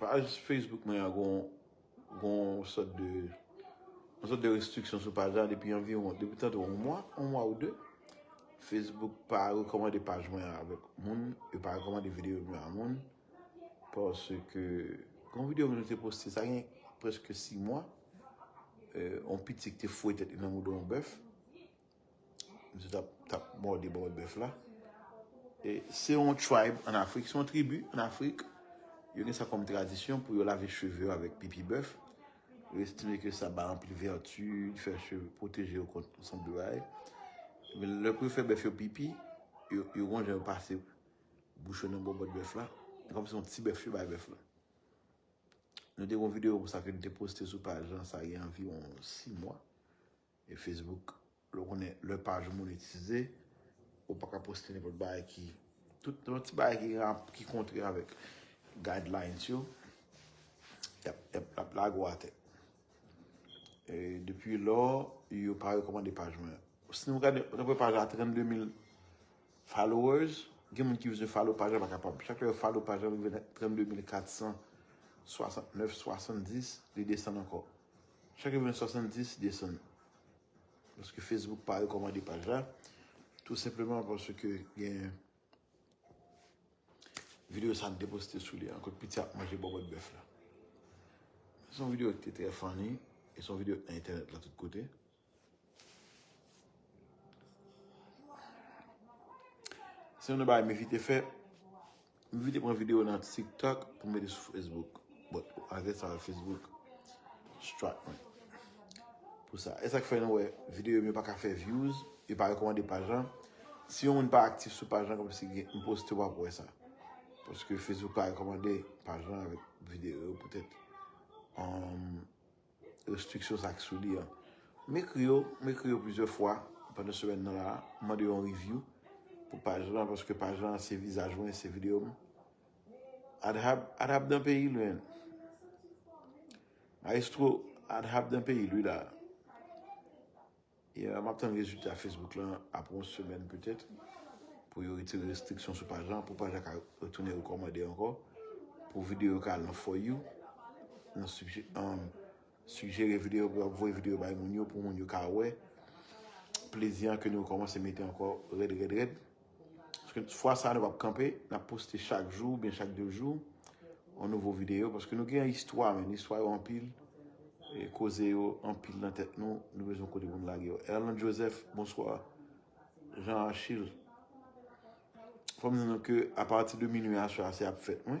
Paj Facebook mwen an gon yon sòt de yon sòt de restriksyon sou paj la depi anviwon, depi tande yon mwa, yon mwa ou de. Facebook pa rekòmande paj mwen an avèk moun, yo pa rekòmande videyo mwen an avèk moun. Paske yon videyo mwen te poste sa gen preske 6 mwa, yon pitit te fouye tèt li nan moudon yon bèf. Misye tap mòde bò bèf la. E se yon tribe an Afrik, se yon tribu an Afrik. Yo gen sa kòm tradisyon pou yo lave cheve yo avèk pipi bèf. Yo estime ke sa ba anpil vèti, li fè cheve, pwoteje yo kont yon seri de bagay. Men lè pou yo fè bèf yo pipi, yo gen yon jan yo pase bouch yo nan bòbòt bèf la. Se kòm si se yon ti bèf yo bay bèf la. Nou te gen yon videyo konsa ke nou te poste sou paj la, sa gen anviwon 6 mwa. E Facebook lè w konnen lè paj ou monetize ou pa ka poste nenpòt bagay ki tout lòt ti bagay ki rap ki kontre avèk guidelines yo yap lage w atè e depi lò yo pa rekòmande paj mwen si nou gade nou wè paj la 32 mil followers gen moun ki vin follow paj la pa kapab chak lè yo follow paj la li vin 32 mil 400 69 70 li desann ankò Chak event 70 desann. Paske Facebook pa rekomande paj la. Tou senpleman paske gen video sa m te poste sou li an. Kot piti ap manje bobot bef la. Son video ki te tre funny. E son video ki te nan internet la tout kote. Se yon nan bagay Mevite fè. Mevite pran video nan TikTok pou mete sou Facebook. But, avè sa Facebook strike mwen. Pou sa. E sak fè nou wè video mwen pa ka fè views. Yo pa rekomande paj lan. Si yon moun pa aktif sou paj lan kòm si gen yon post yo wap wè sa. Paske Facebook pa rekomande paj lan avè video yo poutèt. Restriksyon sa ki sou li an. M ekri yo, m ekri yo plizyè fwa pandan semèn nan la a. M mande yo yon review pou paj lan paske paj lan se vizaj mwen, se videyo m. Adhab, Adhab dan peyi l menn. Maestro, Adhab dan peyi l wi la a. Yeah, map tann rezilta Facebook lan apre yon semèn petèt pou yo retire restriksyon sou paj lan, pou paj la ka retounen rekòmande ankò, pou videyo yo ka al nan For You, nan Suggere Video pou yo ap voye videyo bay moun yo, pou moun yo ka wè plezi an ke nou rekòmanse mete ankò rèd rèd rèd. Paske fwa sa nou pap kanpe, nap poste chak jou, byen chak 2 jou, yon nouvo video, paske nou gen yon istwa men, istwa yo anpil, e koze yo anpil nan tèt nou, nou bezwen kote pou nou lage yo. Erlande Joseph, bonswa. Jean Archil, fòm di nou ke apati de minui aswè a se ap fèt mwen.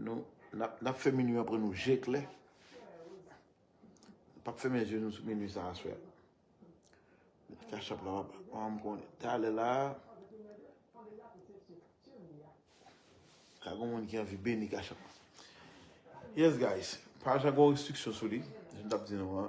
Nou, n ap fè minui an pran nou je klè. N pap fèmen je nou sou minui sa aswè a. Kachap la wap, wap m konnen. Talè la, ka gon moun ki anvi beni kachap la. Yes guys, paj la gon restriksyon sou li, jan m t ap di nou an.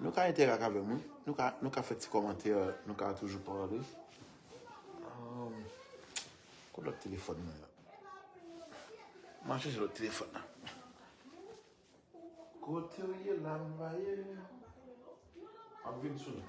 Nou ka entèrak avèm wi. Nou ka nou ka fè ti kòmantè nou ka toujou pale. Kot lòt telefòn mwen an? M'ap chèche lòt telefòn nan. Kotew ye la m va ye. Map vin sou nou.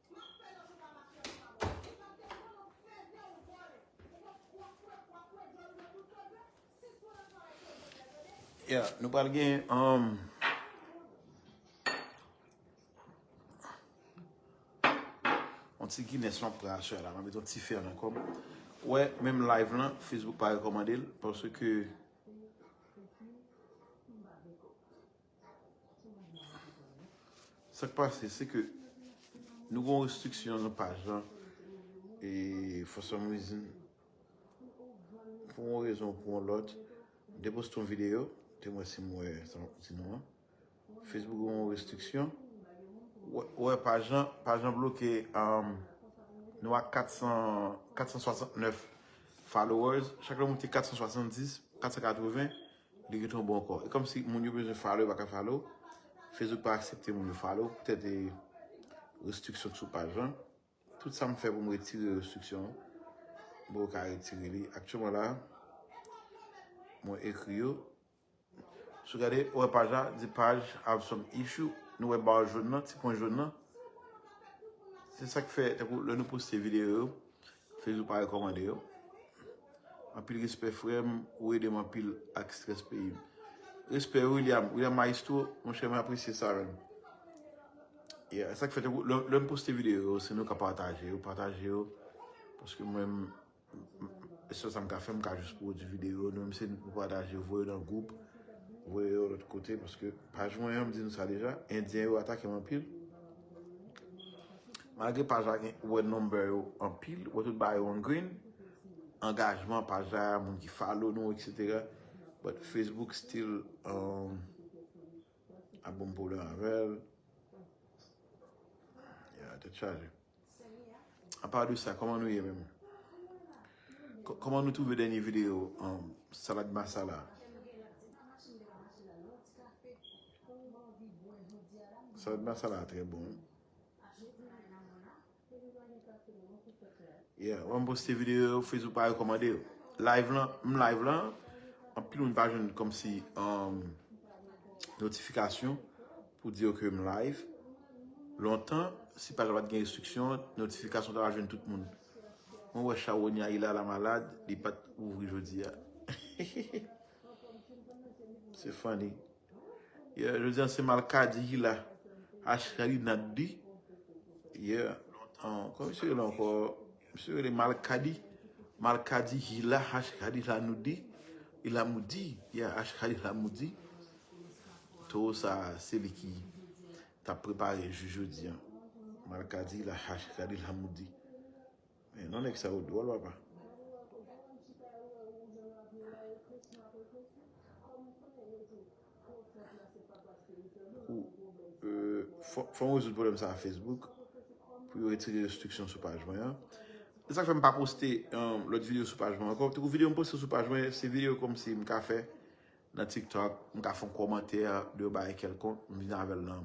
Ya, nou pral gen anm. Um, on ti Guinness lan pral chè la, mwen met on ti fè nan kòm. Wè, menm live lan, Facebook pa rekomande l, pòsè ke... Sa k pase se ke nou gen yon restriksyon nan paj la e for some reason pou yon rezon ou pou yon lòt m te poste yon videyo te mwen si m wè sa map di nou an Facebook gen yon restriksyon ou wè paj la paj la bloke nou a 469 followers chak lè w moute 470 480 Li gen ton bon kò. E kòmsi moun yo bezwen follow yo pa ka follow. Facebook pa aksepte moun yo follow poutèt e restriksyon ki sou paj lan. Tout sa m fè pou m retire restriksyon an m poko ka retire li. Aktyèlman la a mwen ekri yo. Si w gade ou wè paj la di paj have some issue. Nou wè bar jòn nan, ti pwen jòn nan. Se sa k fè tankou lè nou poste videyo yo Facebook pa rekomande yo. Anpil respè frèm ou edem anpil ak stress peyim. Respè William, William maestro mon chè mwen apresye sa menm. Yeah, esak fè lèm poste video yo se nou ka pataje yo, pataje yo paske mwen esel sam ka fè m ka jis pwodi video nou menm se nou pataje yo voye nan group, voye yo lòt kote paske paj mwen an m di nou sa deja, endyen yo atake m anpil. Malgre paj la gen ou wè number yo anpil ou wè tout bagay yo an green angajman paj la moun ki follow nou etc but Facebook still ap banm pwoblèm avèl yeah tèt chaje a part de sa kòman nou ye menm kòman nou twouve dènye video salad masala a salad masala a trè bon. Yeah, wè m poste video yo, Facebook pa rekomande yo. Live lan, m live lan, anpil moun pa jwenn komsi notifikasyon pou di yo ke m live. Lontan, si paj la pat gen restriksyon, notifikasyon ta va jwenn tout moun. Mwen wè Chawonya Ila la malad, li pat ouvri jodi a. Se funny. Yeah jodi an se malkadi ki la Ash kadi nan kdi yeah Kòman misye rele ankò Misye rele malkadi Malkadi ki la Ash kadi la nou di Li la mou di Yeah Ash kadi la mou di Towo sa se li ki Tap prepare jou jodi an Malkadi la Ash kadi la mou di. Men non nèg sa yo dwòl papa. Fò m rezoud pwoblèm sa a Facebook pou yo retire restriksyon sou paj mwen an. Se sa k fè m pa poste lòt videyo sou paj mwen ankò. Tankou videyo m poste sou paj mwen se videyo kòmsi m ka fè Nan tiktok m ka fon komantè de yon bagay kelkonk m vin avèl nan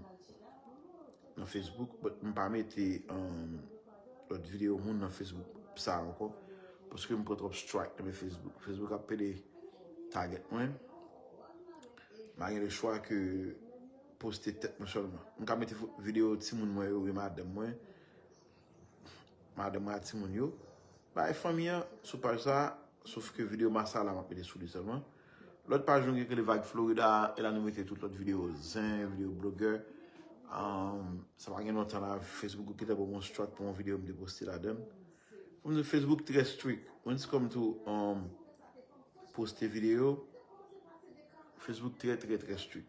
nan facebook but m pa mete lòt video moun nan facebook pou sa ankò paske m pran twòp strike nan men facebook facebook ap pede target mwen m pa gen le chwa ke poste tèt mwen sèlman m ka mete video timoun mwen yo oubyen madanm mwen. Madanm ak timoun yo. Bay fanmi an sou paj sa. Sof ke video massa la map mete sou li selman. Lot paj nou gen ki rele Vibe Florida a. E la nou mete tout lot video zen, video blogè. Sa pa gen lontan la Facebook ou kite bon strat pou yon video m te poste ladann. Fom di Facebook tre strik. Mwen se kom tou poste video. Facebook tre tre tre strik.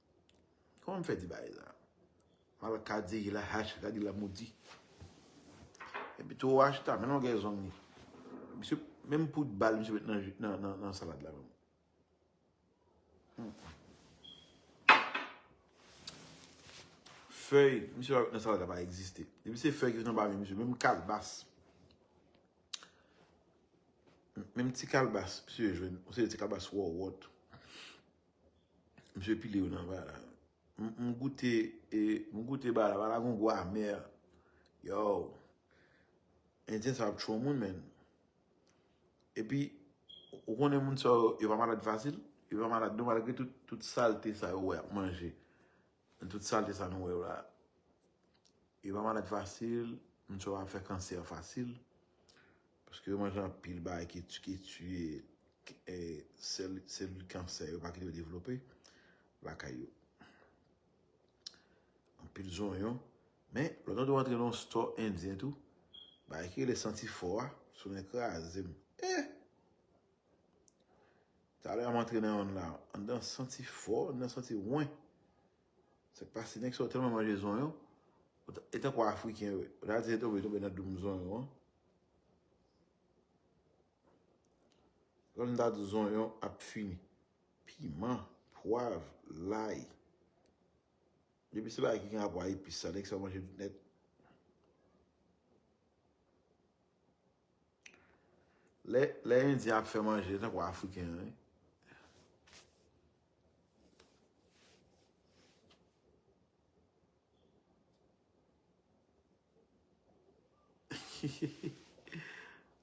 Kòman m fè di bagay sa? M al kadi la hache kadi la modi. Epi tou ou acheta men longè zong li. Misye menm poud bal misye met nan ju nan nan salad la menm. Fèy misye pa met nan salad la pa egziste. Depi se fèy ki nan bame misye menm kalbas. Menm ti kalbas misye jwenn. Ou se ti kalbas wòwòt. Misye pile yo nan bala. M goute e m goute bala. Bala gon gou amè. Yow. Endyen sa ap tchou moun men. E pi ou konnen moun sa yo pa malad fasil. Yo pa malad non malgre tout salte sa yo wè ap manje. Tout salte sa nou wè yo la. Yo pa malad fasil. Moun sa yo pa fè kansè fasil. Paske yo manje anpil bagay ki tiye selil kansè yo pa kite yo devlope lakay yo. Anpil zonyon. Men, lò nan do antre nan stò endyen tou, bagay ki rele santi fò a, sou nan kraze m. Eh! Talè a m antre nan yon la, an dan santi fò, an dan santi wen. Sak pase nèg sa yo tèlman manje zonyon e tankou afriken yo ou ta di se tonbe tonbe nan doum zonyon an kòm ta di zonyon ap fini piman pwav lay depi se bagay ki gen rapò a epis sa nèg sa yo manje tout nèt lè endyen ap fè manje e tankou afriken yo wi.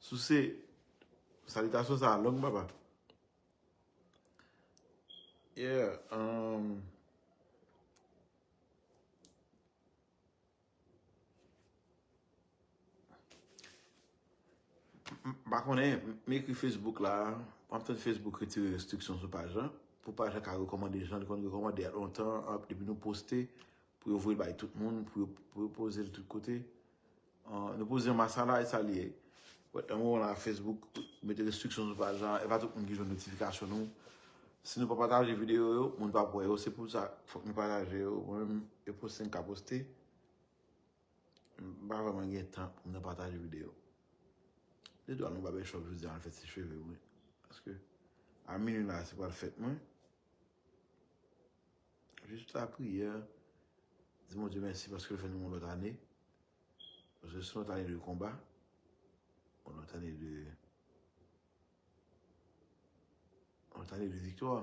Souse, salitasyon sa a long papa. Yeah, um... M pa konnen, m ekri Facebook la, m ap tann Facebook retire restriksyon sou paj la, pou paj la ka rekomande jan li konn rekomande a lontan, depi nou poste, pou yo voye l bay tout moun, pou yo poze l tout kote. Nou poze anba sa la, e sa li ye. Nan moman la, Facebook mete restriksyon sou paj la, e pa tout moun ki jwenn notifikasyon nou. Si nou pa pataje video yo, moun pap wè yo. Se pou sa fòk nou pataje yo. Mwen menm e poste m ka poste. M pa vreman gen tan pou m nan pataje video. Li dwa nou babè chòp jodia al fè ti cheve mwen. Paske a minwi la se pral fèt mwen. Jis la priyè. Di Bondye mèsi paske l fè nou yon lòt ane. Paske se yon lòt ane de konba. Yon lòt ane de... Mwen ta li de viktwa.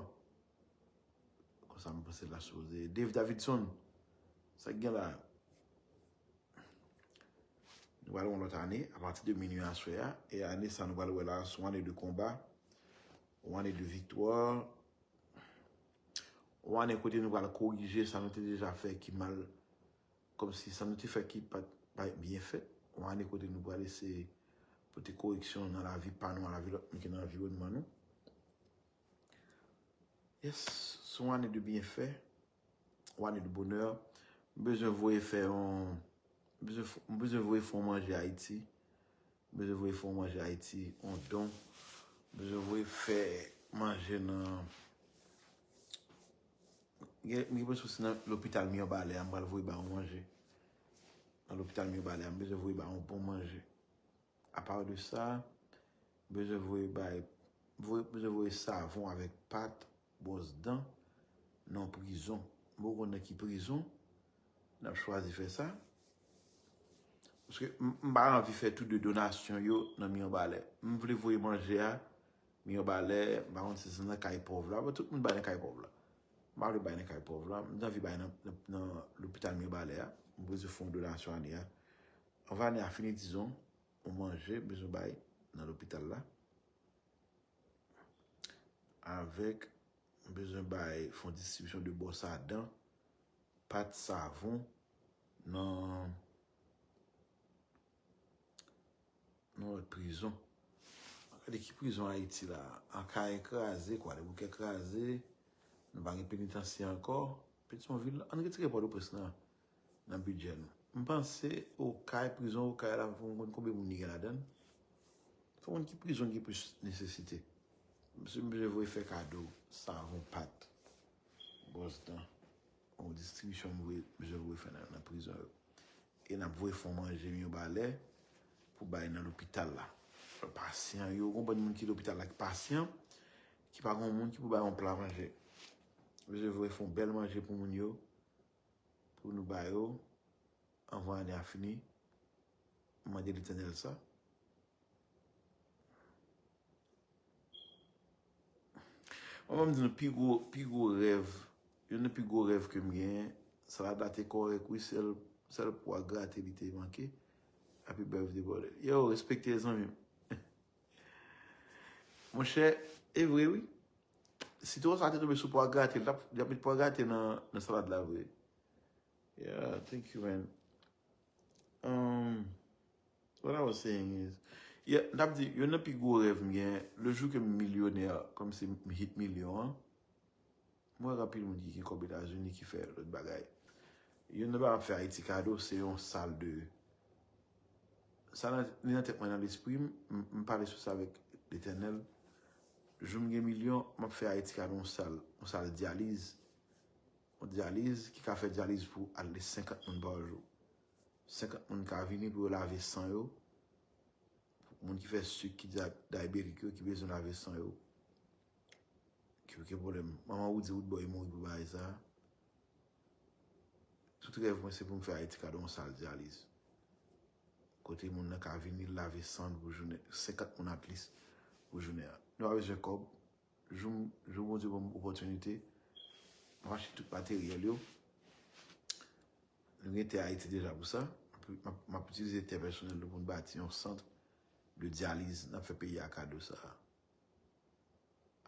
Kon sa mwen pase la sou de Dave Davidson. Sa gen la. Nou wale yon lot ane. A pati de minu aswe a. E ane sa nou wale wè la. Sou ane de konba. Ou ane de viktwa. Ou ane kote nou wale korije. Sa nou te deja fè ki mal. Kòmsi sa nou te fè ki pa t bay byen fèt, yon ane kote nou pral eseye pote koreksyon nan lavi pa nou ak lavi lòt moun ki nan anviwònman nou. Yes, se yon ane de byenfè, yon ane de bonè. M bezwen voye fè yon, m bezwen voye fè yon manje Ayiti, m bezwen voye fè yon manje Ayiti, yon don, m bezwen voye fè manje nan. Mwen gen sousi nan lopital Mirbalè a m pral voye ba ou manje. Nan lopital Mirbalè a m bezwen voye ba ou bon manje. A part de sa, m bezwen voye bay, m bezwen voye savon avèk pat, bwòs dan nan yon prizon. M poko konn nan ki prizon n ap chwazi fè sa. Paske m pa anvi fè tou de donasyon yo nan Mirbalè. M vle voye manje a Mirebalè, m pa konn si se nan kay pòv la, tout moun bay nan kay pòv la. M pa vle bay nan kay pòv la, m te anvi bay nan lopital Mirebalè a, m bezwen fè yon donasyon ane a. Anvan ane a fini dizon, yon manje m bezwen bay nan lopital la. Avèk, m bezwen bay fè yon distribisyon de bwòs a dan, pat, savon, nan Yon lòt prizon. An gade ki prizon Ayiti la. An kaye kraze, kwa de bouke kraze. Nou pa gen penitansye ankò. Petison vil, an retire pò do pres nan. Nan bidjè nou. M panse o kay, prizon o kay la pou m konn konbe moun li gen la dan. Fò moun ki prizon ki plis nesesite. M se m vle vwe fè kado. Savon pat. Bòs dan. Bon distribisyon m voye m janm voye fè nan prizon yo. E nap voye fon manje m yo ba lè pou bay nan lopital la. Pasyan yo, gon bann moun ki lopital la ki pasyan, ki pa gon moun ki pou bay yon pla manje. Msye voye fon bèl manje pou moun yo, pou nou ba yo, anvan ane a fini. M mande Letènèl sa. Mwen banm di nou pi gwo, pi gwo rèv, youn nan pi gwo rèv ke m gen, Saladra te kòrèk wi, sèl, sèl po a grate li te manke. Happy birthday brother. Yow, respekte zanmi m. Monchè, e vre wi. Sitwon sa te tonbe sou po a grate, li tap, li tap met po a grate nan salad la vre. Yeah, thank you man. Umm what I was saying is yeah mtap di youn nan pi gwo rèv mgen le jou kem milyonè kòmsi m hit milyon an m wè anpil moun ki gen kòb etazini ki fè lòt bagay youn nan bagay map fè ayiti kado se yon sal de sa nan li nan tèt mwen nan lespri m m pale sou sa avèk letènèl jou mgen milyon map fè ayiti kado yon sal yon sal dyaliz Yon dyaliz ki ka fè dyaliz pou al de 50 moun pa jou. 50 moun ka vini pou yo lave san yo. Pou moun ki fè sik, ki dayibetik yo, ki bezwen lave san yo. Ki oken pwoblèm. Manman Woody Woodboy mouri pou bagay sa. Tout rèv mwen se pou m fè Ayiti ka gen yon sal dyaliz. Kote moun nan ka vini lave san l pou jounen. 50 moun atlis pou jounen an. Nou pa bezwen kòb. Jou jou Bondye banm opòtinite map achte tout materyèl yo. Nou gen tè Ayiti deja pou sa. Map itilize tè pèsonèl nou pou nou bati yon sant de dyaliz nap fè peyi a kado sa a.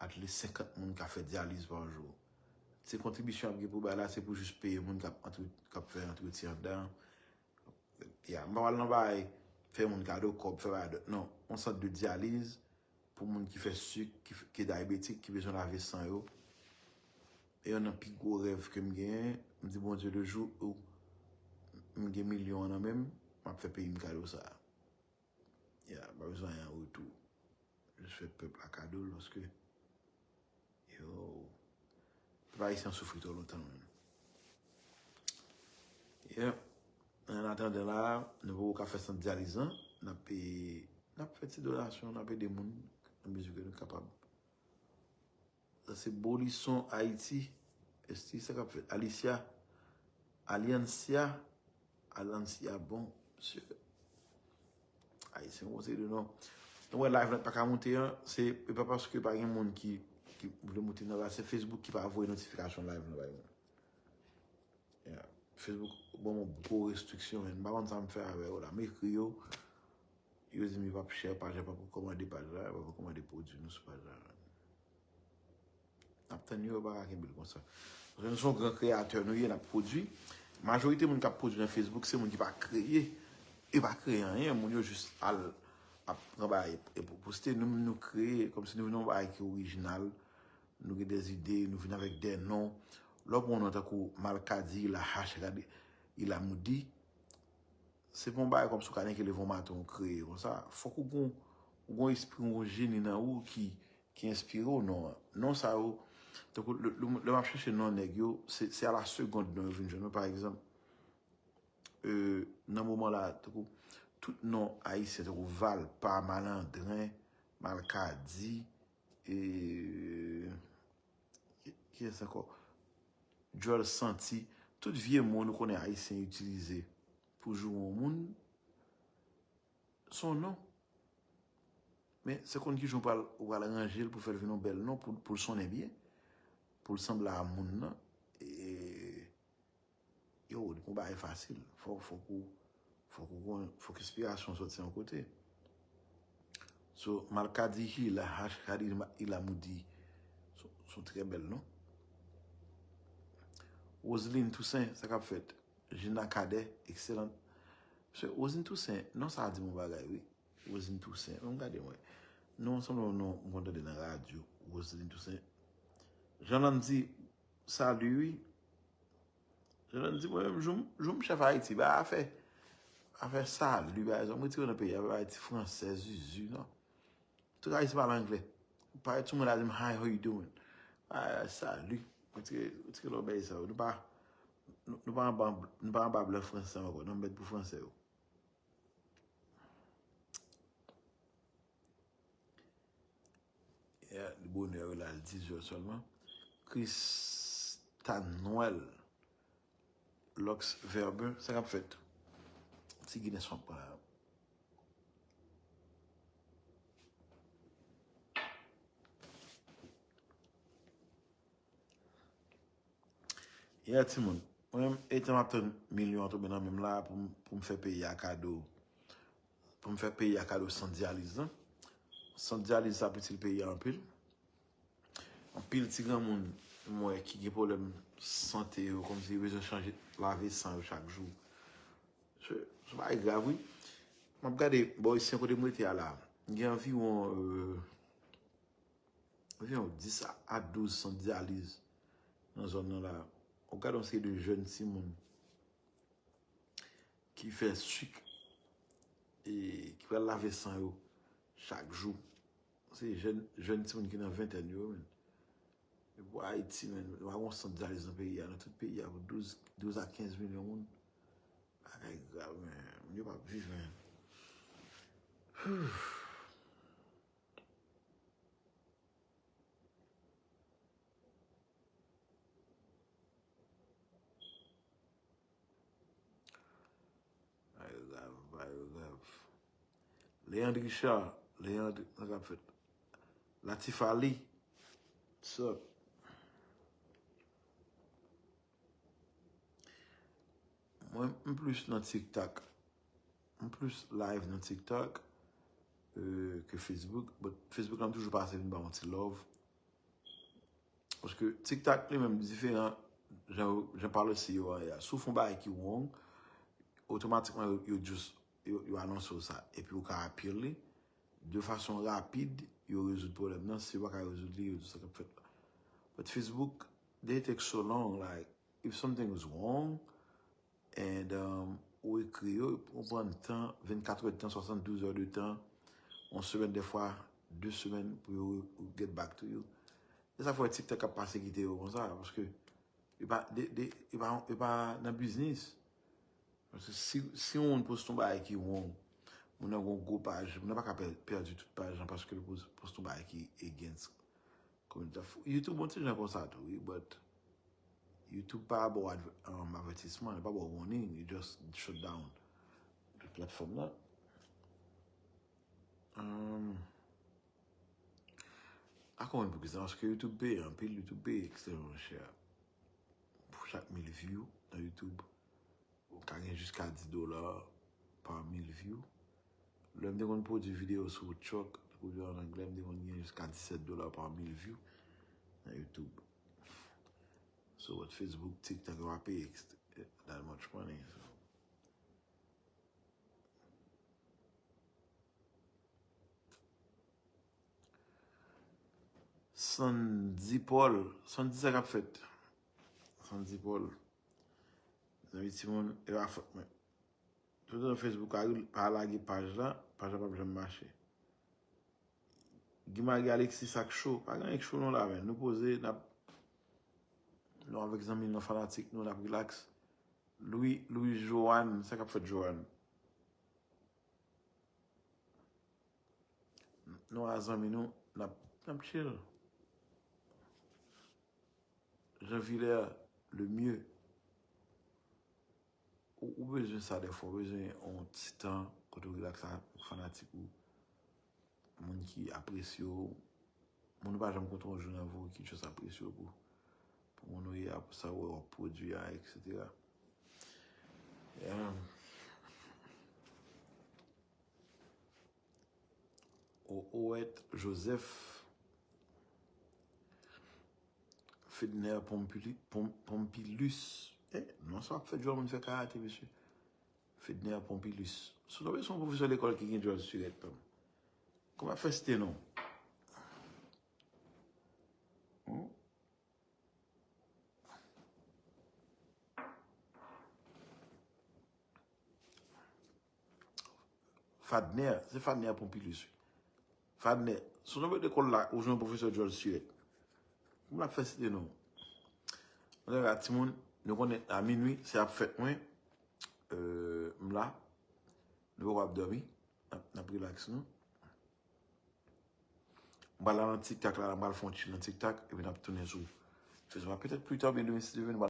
Atlis 50 moun ka fè dyaliz pa jou. Se kontribisyon ap gen pou bay la se pou jis peye moun kap fè antretyen andan an. Yeah, m pa pral nan bagay fè moun kado kòb, fè bagay dòt non. Yon sant de dyaliz pou moun ki fè sik, ki e dayabetik, ki bezwen lave san yo. E yonn nan pi gwo rèv ke m genyen, m di Bondye le jou m gen milyon an nan men m, m ap fè peyi m kado sa a. Ya pa bezwen anyen an retou. Jis fè pèp la kado l paske yo pèp ayisyen an soufri twò lontan menm. Ya an atandan la nou poko ka fè sant dyaliz lan n ape n ap fè ti donasyon n ap ede moun nan mezi ke nou kapab. Sa se bolison ayiti esti sa kap fèt alicia aliancia alancia bon mesye ayisyen bon se de non nou wè live la paka moute an se e pa paske pa gen moun ki ki vle moute nan la se facebook ki pa voye notification live la bay moun ya facebook banm yon gwo restriksyon men m pa konn sa m fè avè yo la m ekri yo Yo dim yo pap share paj la pap rekomande paj la yo pap rekomande pwodwi nou sou paj la nap tann yo yo paka kenbel konsa paske nou son gran kreyatè nou ye nap pwodwi majorite moun kap pwodwi nan facebook se moun ki pa kreye yo pa kreye anyen moun yo jis al ap pran bagay epi poste nou menm nou kreye komsi nou vin yon bagay ki orijinal nou gen des ide nou vin avèk de non lè ou pran yon non tankou malkadi ilahach radi ilamoudi. Se pa yon bagay kòmsi w ka neke leve yon maten ou kreye konsa. Fòk ou gen yon espri, yon jeni nan ou ki enspire w non an. Non sa yo, tankou lè m ap chèche non nèg yo, se a la segond non yo vin jwenn mwen. Pa egzanp, nan moman la, tankou tout non ayisyen, tankou Valpa, Malandren, Malkadi, e... Kiyes anko? Djol santi. Tout vye mo nou konnen ayisyen itilize pou joure yon moun son non. Men se konn kijan ou pral ranje l pou fè l vin yon bèl non pou l sonnen byen, pou l sanble a moun nan. Yo ou konba e fasil fok fok ou fok ou konn fok inspirasyon soti yon kote so malkadihi la hash kadi ila moudi son trè bèl non Roseline Toussaint sa kap fèt Gina Cadet excellent se Roseline Toussaint non sa di mou bagay wi Roseline Toussaint an gade mwen non sanble yon non mwen tande nan radyo Roseline Toussaint Jean Landy Salut wi. Jovenel di mwen menm jou jou m chef Haïti bay afè afè salut bay zòm retire nan peyi a bay ti fransè zuzu nan. Tout Haïti pale anglè. Pale tout moun a di m hi how you doing. Bay salut. Retire retire lòbèy sa yo. Nou pa nou pa anba nou pa anba blan fransè ankò nan mèd pou fransè yo. Li bonè wi la, li 10 zè sèlman. Christane Noël Lux Verbe, sa kap fèt? Ti Gines fòk pa la. Yè ti moun, mwen etan ap tann milyon an tonbe nan menm la pou m fè peyi a kado. Pou m fè peyi a kado sant dyaliz lan. Sant dyaliz sa ap itil peyi a anpil. Anpil ti granmoun m wè ki gen pwoblèm sante yo kòm si yo bezwen chanje lave san yo chak jou. Se yon bagay grav wi. M ap gade bò isi an kote m rete a la. Gen anviwon anviwon 10 a 12 sant dyaliz nan zòn nan la. Ou gade yon seri de jèn timoun. Ki fè suk e ki pral lave san yo chak jou. Se jèn timoun ki nan ventèn yo menm. E pou Ayiti menm, nou pa gon sant dyaliz nan peyi a. Nan tout peyi a pou 12 a 15 milyon moun. Bagay grav men. Moun yo pa ap viv men. Leandre Richard, Leandre, nan kap fèt. Latif Ali, what's up? Mwen m plis nan TikTok. M plis live nan TikTok ke Facebook. But Facebook la m toujou pase vin ba yon ti love. Paske tiktak li menm diferan jan pale si yo aya. Sou fon bay ki wong, otomatikman yo just yo anonse ou sa. Epi ou ka apil li. De fason rapid, yo rezoud problem nan. Si yo pa ka rezoud li, yo di sa kap fèt la. But Facebook, they take so long like, if something is wong, And ou ekri yo, ou pran tan, 24 heures de tan, 72 heures de tan, yon semèn dèfwa, 2 semèn pou yo get back to you. Se sa fè TikTok ap pase kite yo konsa, paske yo pa, yo pa, yo pa nan biznis. Paske si yon moun poste yon bagay ki wrong, moun nan gen yon gwo paj, moun nan pa ka pèdi tout paj lan paske li poste yon bagay ki against. Youtube bon ti jan konsa tou wi but Youtube pa baw avètisman li pa baw warning li just shut down platfòm nan pa konnen poukisa paske Youtube peye anpil Youtube peye ekstrèman chè pou chak mil view nan Youtube ou ka gen jiska 10 dola pa mil view Lè m te konn pwodui videyo sou Truck pou yo an anglè, m te konn gen jiska 17 dola pa mil vyou nan YouTube. So what Facebook, TikTok yo pa peye that much money so. Sandy Paul, Sandy sa k ap fèt? Sandy Paul, zanmi timoun, e pa fòt mwen. Tout nan Facebook a wi pa lage paj la, paj la pap janm mache. Guy Marie Alexis sak cho, pa gen anyen k cho non la men, nou poze nap nou avèk zanmi nou fanatik nou nap relax. Louis Louis Joanne, sa kap fèt Joanne? Nou a zanmi nou nap nap chill. Jean Vilaire le mieux. Ou bezwen sa dèfwa, ou bezwen yon ti tan kote ou relax avèk fanatik ou, moun ki apresye ou, moun ou pa janm kontre yon jou nan vi w ki just apresye w pou moun ou ye a, pou sa ou wè w ap pwodui a, eksetera. Ohoet Joseph Fedner Pompilus eh non sa ap fè djòl moun fè karate mesye Fedner Pompilus sou tonbe son pwofesè lekòl ki gen djòl sirèt tanm kòm ap fè site non Fadner, se Fadner Pompilus wi. Fadner, sou nouvo lekòl la ou jwenn pwofesè djòl siret. Mwen ap fè site non. Mwen te la timoun, nou konnen a minwi se ap fèt mwen. M la, nou poko ap dòmi, n ap rilaks nou. M pral la nan tiktak la, m pral fon ti nan tiktak epi n ap tounen sou. Petèt pli ta oubyen demen si Dieu veut.